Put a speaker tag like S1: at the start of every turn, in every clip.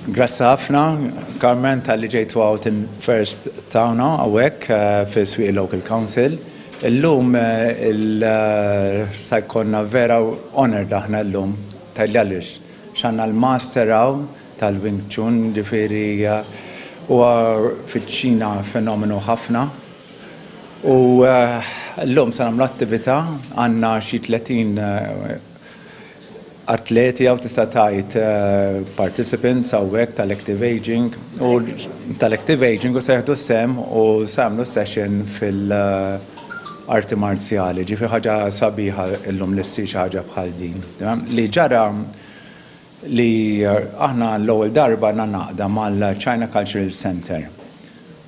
S1: Grazzi ħafna, Carmen, tal-li ġejtu għawt in first tawna għawek eh, fi swi Local Council. Illum eh, il-sajkonna eh, vera honor daħna illum tal-li għalix. ċanna l-master għaw tal-Wing Chun ġifiri u fil-ċina fenomenu ħafna. U l-lum sanam l-attivita għanna xie 30 atleti jew tista' tgħid participants hawnhekk tal-active aging u tal-active aging u se jieħdu sehem u se jagħmlu session fil-arti marzjali. Ġifi ħaġa sabiħa illum li ssir xi ħaġa bħal din. Li ġara li aħna l-ewwel darba għandna għaqda mal-China Cultural Centre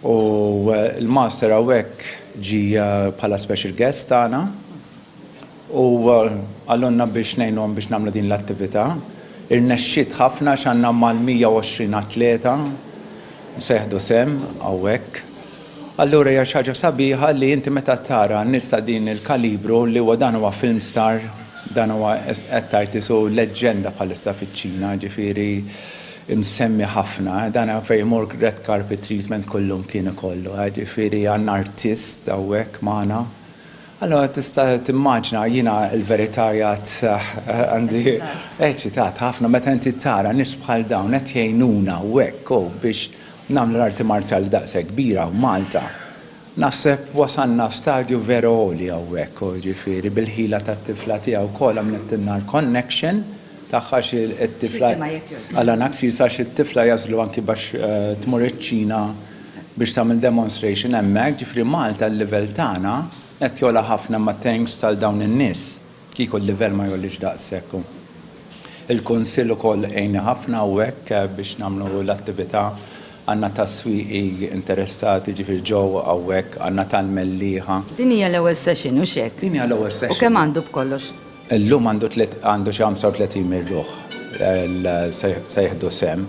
S1: u l-Master hawnhekk ġie bħala special guest tagħna u qalulna biex ngħinuhom biex nagħmlu din l-attività. Irnexxiet ħafna għax għandna mal-120 atleta se jieħdu sehem hawnhekk. Allura hija xi ħaġa sabiħa li inti meta tara nies ta' din il-kalibru li huwa dan huwa film star, dan huwa qed tgħid isu leġġenda bħalissa fiċ-Ċina, ġifieri msemmi ħafna, dan fejn imur red carpet treatment kullum kien ikollu, ġifieri għandna artist hawnhekk magħna. Allura tista' timmaġna jiena l-verità jgħid għandi eċitat ħafna meta inti tara nies bħal dawn qed jgħinuna hawnhekk biex Nagħmlu l-arti marzjali daqshekk kbira f'Malta. Naħseb wasalna f'stadju vera għoli hawnhekk, jiġifieri bil-ħila tat-tifla tiegħi wkoll għamlittilna l-connection tagħha għax it-tifla Alan Axis għax it-tifla jagħżlu anki biex tmur iċ-Ċina biex tagħmel demonstration hemmhekk, jiġifieri Malta l-livell tagħna qed jogħla ħafna imma thanks għal dawn in-nies. Kieku l-livell ma jgħollix daqshekk u l-Kunsill ukoll għinni ħafna hawnhekk biex nagħmlu l-attività. Għandna tas-swieqi interessati, ġifieri ġew hawnhekk, għandna tal-mellieħa. Din hija l-ewwel
S2: session, hux hekk? Din hija l-ewwel session. U kemm
S1: għandu b'kollox?
S2: Illum għandu
S1: tliet għandu xi 35 mil ruħ se jieħdu sehem,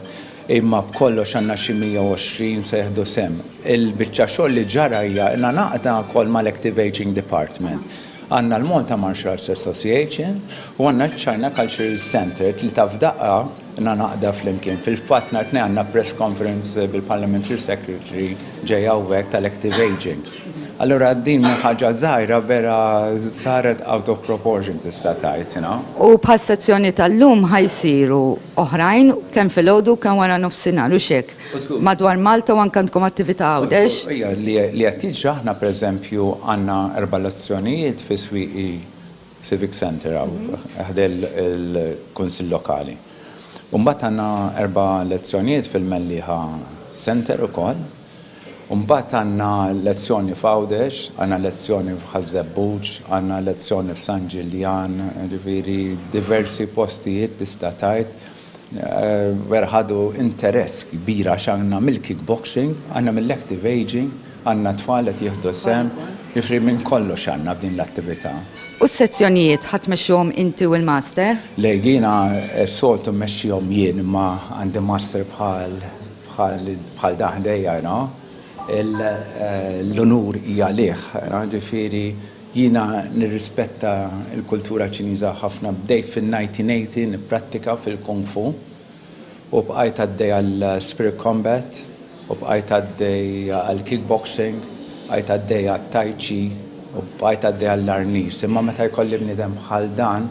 S1: imma b'kollox għandna xi 120 se jieħdu sehem. Il-biċċa xogħol li ġara hija ilna ngħaqdna wkoll mal-Active Ageing Department Għandna l-Malta Martial Arts Association u għandna ċ-China Cultural Centre, tlieta f'daqqa na naqda flimkien. Fil-fatt nhar it-Tnejn għandna press conference bil-Parliamentary Secretary ġej hawnhekk tal-Active Ageing. Allura din minn ħaġa żgħira vera saret out of proportion tista' tgħid, you know. U bħas-sezzjoni
S2: tal-lum ħa jsiru oħrajn kemm filgħodu kemm wara nofsinhar, hux hekk? madwar Malta u anke għandkom attività Għawdex. Ija, li qed
S1: jiġri aħna pereżempju għandna erba' elezzjonijiet fi Swieqi Civic Centre hawn ħdejn il-Kunsill Lokali. U mbagħad għandna erba' elezzjonijiet fil-Mellieħa Centre ukoll. U mbagħad għandna elezzjoni f'Għawdex, għandna elezzjoni f'Ħal Żebbuġ, għandna elezzjoni f'San Ġiljan, jiġifieri diversi postijiet tista' tgħid. Vera ħadu interess kbir għax għandna mill-kickboxing, għandna mill-active ageing, għandna tfal qed jieħdu sehem, jiġifieri minn kollox għandna f'din l-attività. U s-sezzjonijiet ħa
S2: tmexxuhom inti u l-Master? Le, jiena
S1: s-soltu mmexxihom jien imma għandi Master bħal bħal dan ħdejja, you know. L-unur hija għalih, jiġifieri Jiena nirrispetta l-kultura Ċiniża ħafna. Bdejt fin-1980 nipprattika fil-Kung Fu u bqajt għaddej għal Spirit Combat u bqajt għaddej għal Kickboxing, bqajt għaddej għat-Tai Chi u bqajt għaddej għall-Arnis. Imma meta jkolli bniedem bħal dan,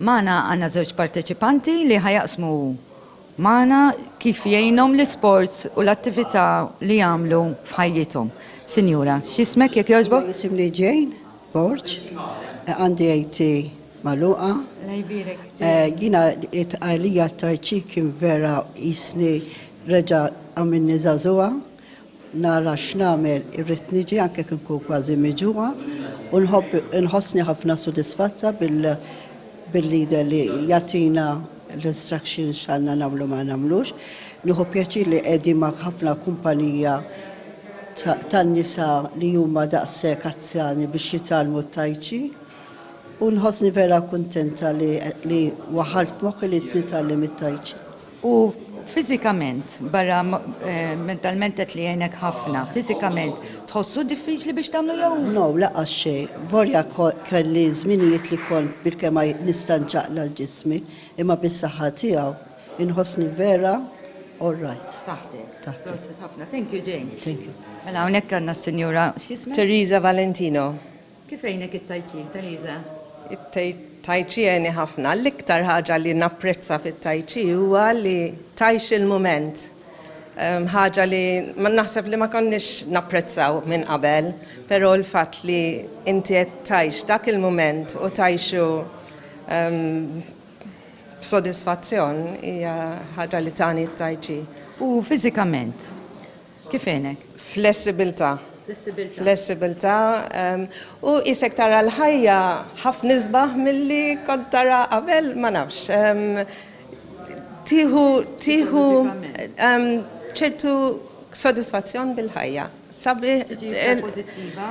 S2: Magħna għandna żewġ parteċipanti li ħa jaqsmu magħna kif jgħinhom l-isports u l-attività li jagħmlu f'ħajjithom. Sinjura, x'ismek jekk jogħġbok? Jisimni Jane
S3: Borg, għandi AT magħluqa. La jbierek. Jiena it-tqajlija ta' ċi kien vera jisni reġa' għamilni żagħżugħa. Nara x'nagħmel, irrid niġi anke kien nkun kważi miġugħa u nħobb inħossni ħafna sodisfazza bil bil-leader li jagħtina l-instructions x'għandna nagħmlu ma nagħmlux. Nieħu pjaċir li qegħdin ma' ħafna kumpanija tan-nisa li huma daqshekk azzjani biex jitgħallmu t-Taichi u nħossni vera kuntenta li li waħħalt f'moħħi li nitgħallem it-Taichi. U
S2: fiżikament, barra mentalment qed li jgħinek ħafna, fiżikament tħossu diffiċli biex tagħmlu jew? No, laqas xejn.
S3: Volja kelli żminijiet li kont bilkema nista' nċaqla' l-ġismi, imma bis-saħħa tiegħu inħossni vera all right. F'saħħtek. Taħt. Proset
S2: ħafna. Thank you, Jane. Thank you. Mela hawnhekk
S3: għandna
S2: s-Sinjura x'isma'? Teresa Valentino.
S4: Kif għenek
S2: it-Tai Chi, Teresa? It-Tai
S4: Chi għeni ħafna. L-iktar ħaġa li napprezza fit-Tai Chi huwa li tajx il-mument. Ehm, ħaġa li ma naħseb li ma konniex napprezzaw minn qabel, però l-fatt li inti qed tajx dak il-mument u tajxu ehm, b'sodisfazzjon hija ħaġa li tani t-tajċi. U
S2: fiżikament? Kif għenek? Flessibilità.
S4: Flessibilità. Flessibilità. U isek tara l-ħajja ħafna isbaħ milli kont tara qabel ma nafx. Tiħu tiħu ċertu sodisfazzjon bil-ħajja. Sabi.
S2: Pozittiva.